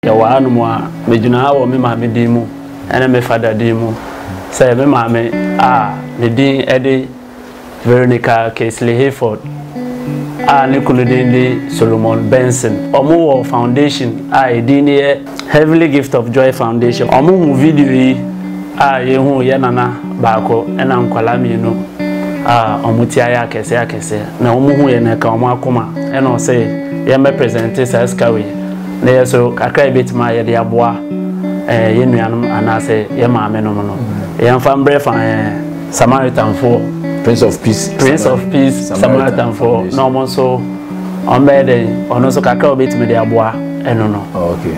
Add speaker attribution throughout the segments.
Speaker 1: Yɛwɔ hanom a, megyina ha wɔ me maame din mu ne me fada din mu. Sɛ me maame a ne din de Veronica Casely Hayford a ne kunu din de Solomon Benson. Wɔwɔ foundation a edin no yɛ Heavenly Gift of Joy Foundation. Wɔhu video yi a yɛhuu yɛn nana baako na nkwadaa mmienu a wɔte ayɛ akɛseɛ akɛseɛ na wɔhu yɛn na ɛka wɔn akoma na wɔse yɛmmɛ presente saa sika wei. Na yɛ nso, kakra a yɛbɛtumi a yɛde aboa eh, yɛn nuanom anaasɛ yɛn maame nom no, yɛmfa mbrɛ fa eh, Samaritanfoɔ. Prince of Peace.
Speaker 2: Prince of Peace
Speaker 1: Samaritanfoɔ na wɔn nso wɔn bɛyɛ dɛn? Ɔno nso kakra a wɔbɛtumi de aboa ɛno no. Oh, okay.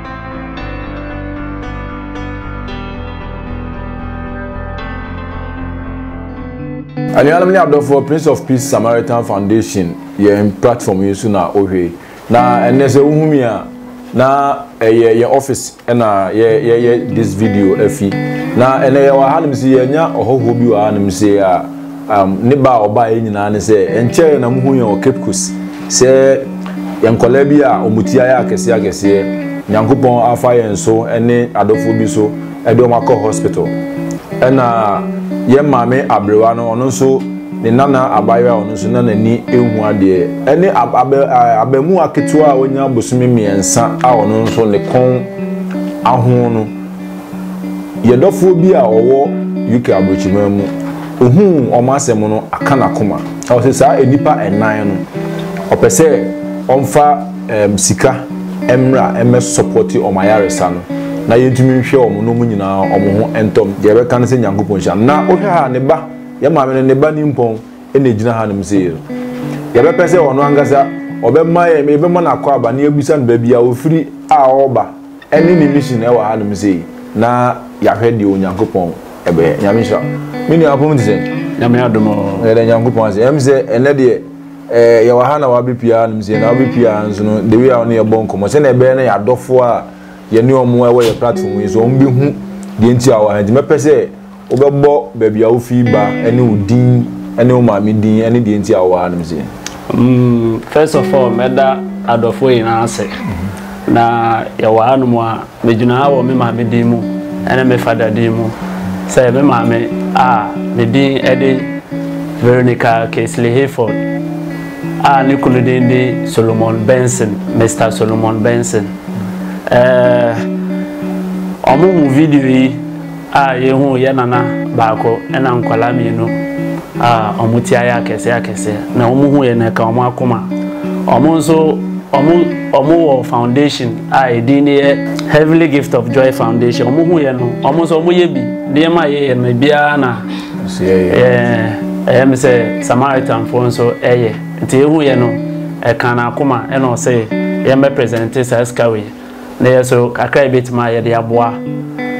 Speaker 2: anuanom ne adɔfoɔ prince of peace samaritan foundation yɛn platform yi so na wohwɛ na ɛnɛ sɛ wohu mi a na ɛyɛ yɛn office ɛna yɛyɛ this video afi na ɛnɛ yɛwɔ hanom si yɛnya ɔhɔhoɔ bi wɔ hanom si a Um, ne ba a ɔbaeɛ nyinaa ne sɛ ɛnkyɛɛ na muhu yɛn wɔ Cape Coast sɛ yɛn nkɔlaa bi a wɔn ti ayɛ akɛseɛ akɛseɛ nyankopɔn afa yɛn so ne adɔfoɔ bi so de wɔn akɔ hospital ɛna yɛn maame aberewa no ɔno nso ne nana abayewa a ɔno nso na n'ani ehu adeɛ ɛne abɛ abɛmu aketewa a wɔnya bosome mmiɛnsa a ɔno nso ne kɔn ahoɔ no Yɛ dɔfoɔ bi a ɔwɔ UK abrokyiman mu ohuu ɔmo asɛm no aka nakoma ɔse saa enipa nnan no ɔpɛ sɛ ɔmfa ɛɛm sika ɛmmra ɛmmɛ sɔpɔte ɔmo ayaresa no na yɛntumi nhwɛ ɔmo na ɔmo nyinaa ɔmo ho ɛntɔm deɛ ɛbɛka ne sɛ Nyankopɔn nhyira no na wohwɛ ha ne ba yɛ maame no ne ba nimpɔn ɛna egyina ha nom sei no yɛbɛpɛ sɛ ɔno ankasa ɔbɛma yɛbɛma no akwaaba na yɛbusa no baabi a ofiri a ɔɔba Ɛne ne mission ɛwɔ ha nom sei na yahwɛ deɛ Onyankopɔn ɛbɛyɛ. Nyame nhyira wo. Me nua apom te sɛn? Nyame adom oo. Yɛda Nyankopɔn ase. Ɛm sɛ ɛnɛ deɛ eh, yɛwɔ ha na wabɛ pie ha nom sei na wabɛ pie ha nso no the way a wo ne yɛbɔ nkɔmmɔ sɛnea ɛbɛyɛ na yɛadɔfoɔ a yɛne ɔmo ɛwɔ yɛ platform yi so ɔmo bɛhu deɛ nti a wɔ ha nti mɛpɛ sɛ Wobɛbɔ baabi a wofi ba ne wo din ne wo maame din ne deɛ nti a wowɔ hanom sei. First
Speaker 1: of all, mɛda adɔfoɔ nyinaa ase. Na yɛwɔ hanom a, megyina ha wɔ me maame din mu ne me fada din mu. Sɛ me maame a, ne din de Veronica Casely Hayford a ne kunu din de Solomon Benson, Mister Solomon Benson. Ɛɛ, wɔn video yi. A yɛhuu yɛn nana baako na nkwadaa mmienu a wɔn ti ayɛ akɛseɛ akɛseɛ na wɔn hu yɛn na ɛka wɔn akoma. Wɔn nso wɔn wɔn wɔ foundation a edin no yɛ Heavenly Gift of Joy Foundation. Wɔn hu yɛn no wɔn nso wɔn yɛ bi nneɛma a yɛyɛ no biara na ɛyɛ me sɛ Samaritanfoɔ nso ɛyɛ nti ehu yɛn no ɛka n'akoma ɛna ɔsɛ yɛn bɛ presente saa sika wei. Na yɛ nso, kakra a yɛbɛtumi a yɛde aboa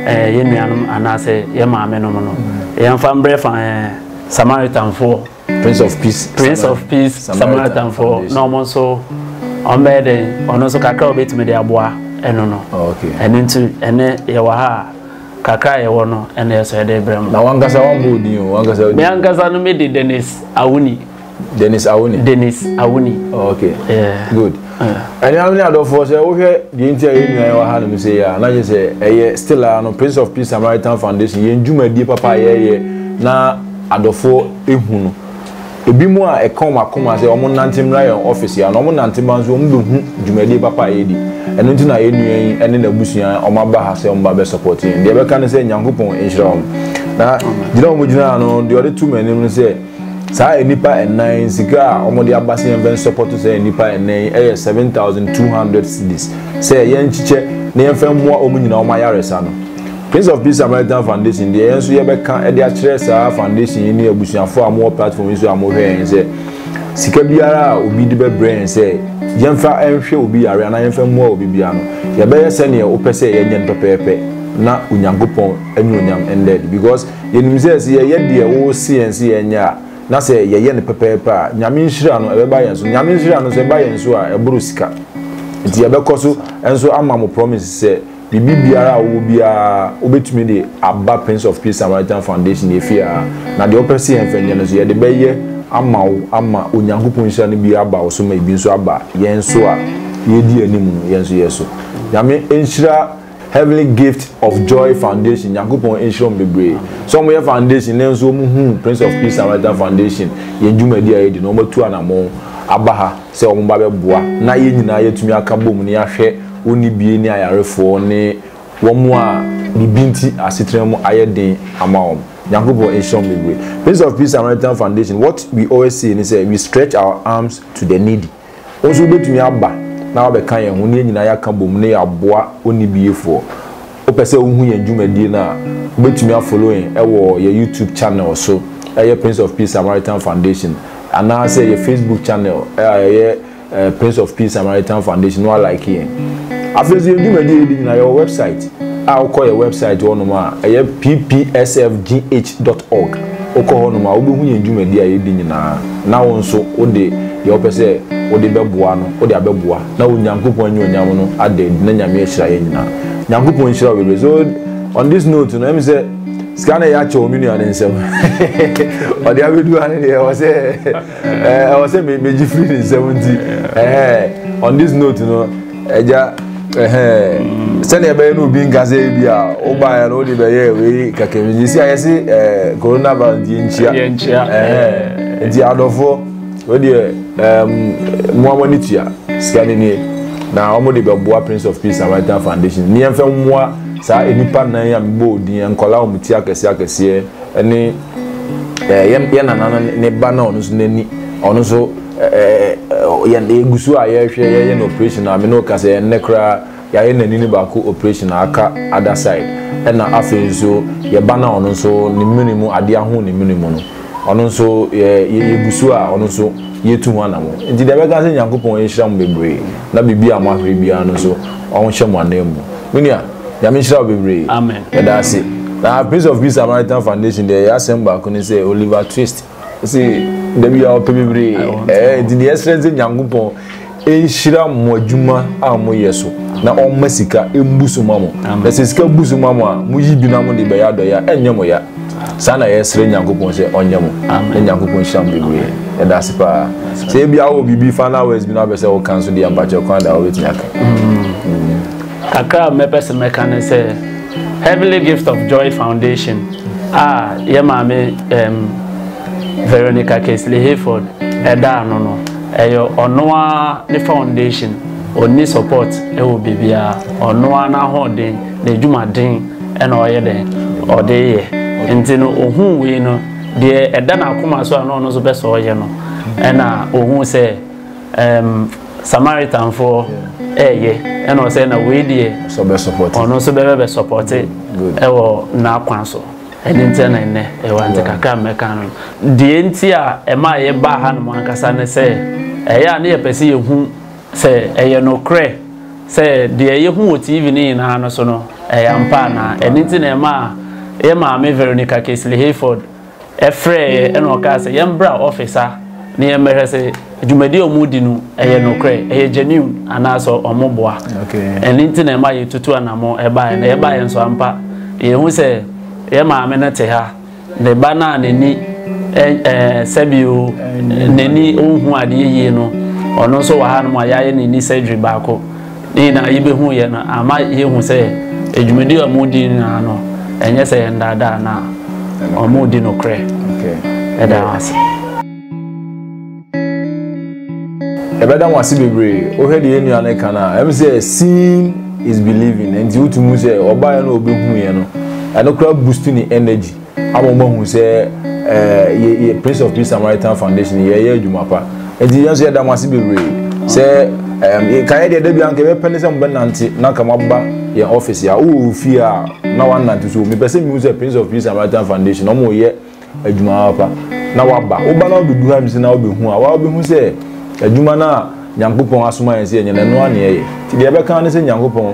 Speaker 1: eh, yɛn nuanom anaasɛ yɛn maame nom no, yɛmfa mbrɛ fa eh, Samaritanfoɔ. Prince of Peace.
Speaker 2: Prince of Peace Samaritanfoɔ
Speaker 1: na wɔn nso wɔn bɛyɛ dɛn? Ɔno nso kakra a wɔbɛtumi de aboa ɛno no. Oh, ɛno nti
Speaker 2: ɛnɛ
Speaker 1: yɛwɔ ha a kakra a yɛwɔ no ɛna yɛ sɛ yɛde brɛ mu. Na wankasa wɔn bɔ odin
Speaker 2: o, wankasa odin. Me ankasa no me de
Speaker 1: Dennis Awuni. Dennis Awuni. Dennis Awuni.
Speaker 2: Oh, okay. Yeah. Good. Ẹni àwọn ní àdọ́fọ́ sẹ́ wọ́n hwẹ́ deɛ nti a yẹn nyinaa wà ha nínú sẹ́ yẹ a náà yẹ sẹ́ ẹ yẹ still a no Prince of Peace Samaritan Foundation yẹn dwumadie papa yẹ yẹ na àdọ́fọ́ ehu no ebi mu a ɛka wɔn akoma sɛ wɔn nante mmra yɛn ɔfis yɛ na wɔn nante ba nso wɔn bɛ hu dwumadie papa a yɛdi ɛno nti na yɛn nua yi ɛne n'abusua wɔn aba ha sɛ wɔn ba bɛ sɔpɔt yɛn deɛ bɛka ne sɛ nyankopɔn nhyira wɔn na gyina wɔn gyina ano deɛ ɔde to mu anim ne sɛ. Saa nnipa nnan yi, sika a wɔde aba sɛ yɛmfa nsɔpɔto saa nnipa nnan yi yɛ 7,200 cedis sɛ yɛnkyekyɛ na yɛmfa mmoa wɔn nyinaa wɔn ayaresa no. Prince of Peace Samaritan Foundation deɛ yɛn nso yɛbɛka de akyerɛ saa foundation yi ne abusuafoɔ a mowɔ platform yi so a mohwɛ yɛn sɛ sika biara a obi de bɛbrɛ yɛn sɛ yɛmfa nhwɛ obi yare anaa yɛmfa mmoa obi biara no yɛbɛyɛ sɛdeɛ wopɛ sɛ yɛnyɛ no pɛpɛɛpɛ na Onyankopɔn anuonyam ndɛɛde because Yɛnim sɛ sɛ yɛyɛ deɛ wose yɛn sɛ yɛnyɛ a, na sɛ yɛyɛ no pɛpɛɛpɛ a, Nyame nhyira no, ɛbɛba yɛn so. Nyame nhyira no nso, ɛba yɛn so a, ɛboro sika. Enti yɛbɛkɔ so nso ama mo promise sɛ, biribi biara a wowɔ biara, wobɛtumi de aba Prince of Peace Samaritan Foundation yɛfie ha, na deɛ wopɛ sɛ yɛmfa nyɛ no nso, yɛde bɛyɛ ama wo ama Onyankopɔn nhyira no bi aba wo so ma ebi nso aba yɛn so a yɛredi anim no, yɛn nso yɛn so. Nyame nhyira. Heavenly Gift of Joy Foundation, Nyankopɔn nhyira wɔn bebree. Sɛ wɔyɛ foundation na nso wɔn hu Prince of Peace Samaritan Foundation yɛn dwumadi a yɛdi na wɔn atu anamɔn aba ha sɛ wɔn ba bɛboa na yɛn nyinaa yɛatumi aka bom na yɛahwɛ onibie ne ayarefoɔ ne wɔn a biribi nti asetena mu ayɛ den ama wɔn. Nyankopɔn nhyira wɔn bebree. Prince of Peace Samaritan Foundation, what we always say ne sɛ we stretch our arms to the needy. Wo nso wobɛtumi aba na woabɛka yɛn ho na yɛn nyinaa yɛaka bom na yɛaboa onnibiefoɔ. Wopɛ sɛ wohu yɛn dwumadie no a, wobɛtumi afollow yɛn wɔ yɛn YouTube channel so a ɛyɛ Prince of Peace Samaritan Foundation anaasɛ yɛn Facebook channel a ɛyɛ Prince of Peace Samaritan Foundation na woalike yɛn. Afei nso yɛn dwumadie yɛdi nyinaa yɛwɔ website a wokɔ yɛn website hɔnom a ɛyɛ ppsfgh.org. Wokɔ hɔnom a wobɛhu yɛn dwumadie a yɛdi nyinaa. na wo nso wode deɛ wopɛ sɛ wode bɛboa no wode abɛboa na wo Nyankopɔn anuonyam no ada adi na Nyame ahyira yɛn nyinaa. Nyankopɔn nhyira wo bebree. So on this note no ɛmi sɛ sika no ɛyɛ akyɛ wɔ me nua no nsam ɔde abɛdu ha no deɛ ɛwɔ sɛ ɛwɔ sɛ megye firi ne nsam nti on this note no Agya, ɛhɛn, sɛnea ɛbɛyɛ no obi nka sɛ bi a wobaeɛ no wode bɛyɛ wei kakam nti si a yɛse eh, coronavirus nti yɛnkyia. Yɛnkyia. Ɛhɛn, nti adɔfoɔ, wodeɛ um, mmoa mo ani tua sika no nie na wɔn de bɛboa Prince of Peace Samaritan Foundation ne yɛmfa mmoa saa nnipa nan a mebɔ odin nkɔla wɔn ti akɛseɛ akɛseɛ ne eh, yɛn nana no ne ba na ɔno nso n'ani ɔno nso yɛn yɛgu so a yɛrehwɛ yɛyɛ no operation a me ne wo ka sɛ ɛnnɛ koraa yɛayɛ n'ani no baako operation a aka other side ɛna afei nso yɛba no a ɔno nso ne mene mu adeɛ aho ne mene mu no ɔno nso yɛ yɛgu so a ɔno nso yɛtu ho anamo nti deɛ bɛka sɛ nyankopɔn nhyira mo bebree na biribi a moahwere biara no nso ɔho hyɛ mo anan mu me nua nyame nhyira wo bebree yɛda ase
Speaker 1: na
Speaker 2: prince of peace samaritan foundation deɛ yɛ asɛm baako ne sɛ oliver twist Ɔsi dabi a ɔpɛ bebree ɛɛ eh, nti deɛ ɛsrɛ nsɛ nyankopɔn nhyira mo adwuma a mo yɛ so na ɔmma sika mbu so ma mo na sɛ sika bu so ma mo a mo yi bi na mo de bɛyɛ adɔyɛ a ɛnyɛ mo ya saa na yɛsrɛ nyankopɔn sɛ ɔnyɛ mo na nyankopɔn nhyira mo bebree ɛda ase paa sɛ ebi awɔ biribi final words bi na wopɛ sɛ woka nso deɛ mpakyɛ kwan da wobɛtumi aka mm.
Speaker 1: Kakra a mɛpɛ sɛ mɛka ne sɛ, Heavenly Gift of Joy Foundation a yɛn maame um, Veronica Casely Hayford ɛda ano no, ɛyɛ ɔno ara ne foundation. Ɔnni support wɔ biribiara. Ɔno ara n'ahoɔden, n'adwumaden ɛna ɔyɛ dɛn? Ɔde yɛ. Nti no, ɔhuu wei no, deɛ ɛda n'akoma so a na ɔno nso pɛ sɛ ɔyɛ no, ɛna ɔhuu sɛ, um, samaritanfoɔ ɛɛyɛ ɛna ɔsɛ na wei deɛ ɔno
Speaker 2: nso bɛbɛ bɛ sɔpɔte
Speaker 1: ɛwɔ n'akwan so ɛne nti na ɛnɛ ɛwɔ nti kakra mmɛka no deɛ nti a ɛma ɛyɛ baa ha nom ankasa ne sɛ ɛyɛ a ne yɛpɛ sɛ yɛhu sɛ ɛyɛ nokorɛ sɛ deɛ yɛhu wɔ tv no nyinaa no so no ɛyɛ ampa anaa ɛne nti na ɛma yɛ maame veronica kesley hayford Frɛeɛ ɛna ɔkaa sɛ yɛmbra office ha na yɛmbɛhwɛ sɛ dwumadie a wɔredi no ɛyɛ nokorɛ, ɛyɛ genuine anaa sɛ wɔn boa. Ɛno nti na ɛma yɛtutu anamɔ ɛbaeɛ. Na yɛbaeɛ nso ampa yɛhu sɛ yɛn maame no te ha, ne ba no a n'ani sɛbio n'ani ɔnhu adeɛ yie no, ɔno nso wɔ hanom a yɛayɛ n'ani surgery baako. Ne nyinaa yebehuiɛ no ama yɛahu sɛ dwumadi a wɔredi no nyinaa no, ɛnyɛ sɛ yɛnnaadaa na wɔredi nokorɛ. Yɛda wo ase.
Speaker 2: ɛbɛda mo ase bebree wohwɛ deɛ nnua no ka no a ɛm sɛ seeing is believing nti wotumi sɛ ɔbaeɛ no ɔbɛhuiɛ no ɛno koraa boost ne energy ama wɔn ahu sɛ ɛɛ yɛ yɛ prince of peace samaritan foundation yɛyɛ adwuma pa nti yɛn nso yɛda mo ase bebree sɛ ɛɛ kan yɛ deɛ dabi anka yɛbɛpɛ ne sɛ mo bɛnante na nka mo aba yɛn office a wowɔ ofie a na wanante so mepɛ sɛ mihu sɛ prince of peace samaritan foundation na wɔn yɛ adwuma pa na waba woba na wobɛdu ha mi sɛ na wobɛhu a wabɛhu sɛ adwuma no a nyankopɔn asoma yɛn sɛ yɛnyɛ na ɛno a na yɛyɛ nti deɛ yɛbɛka ne sɛ nyankopɔn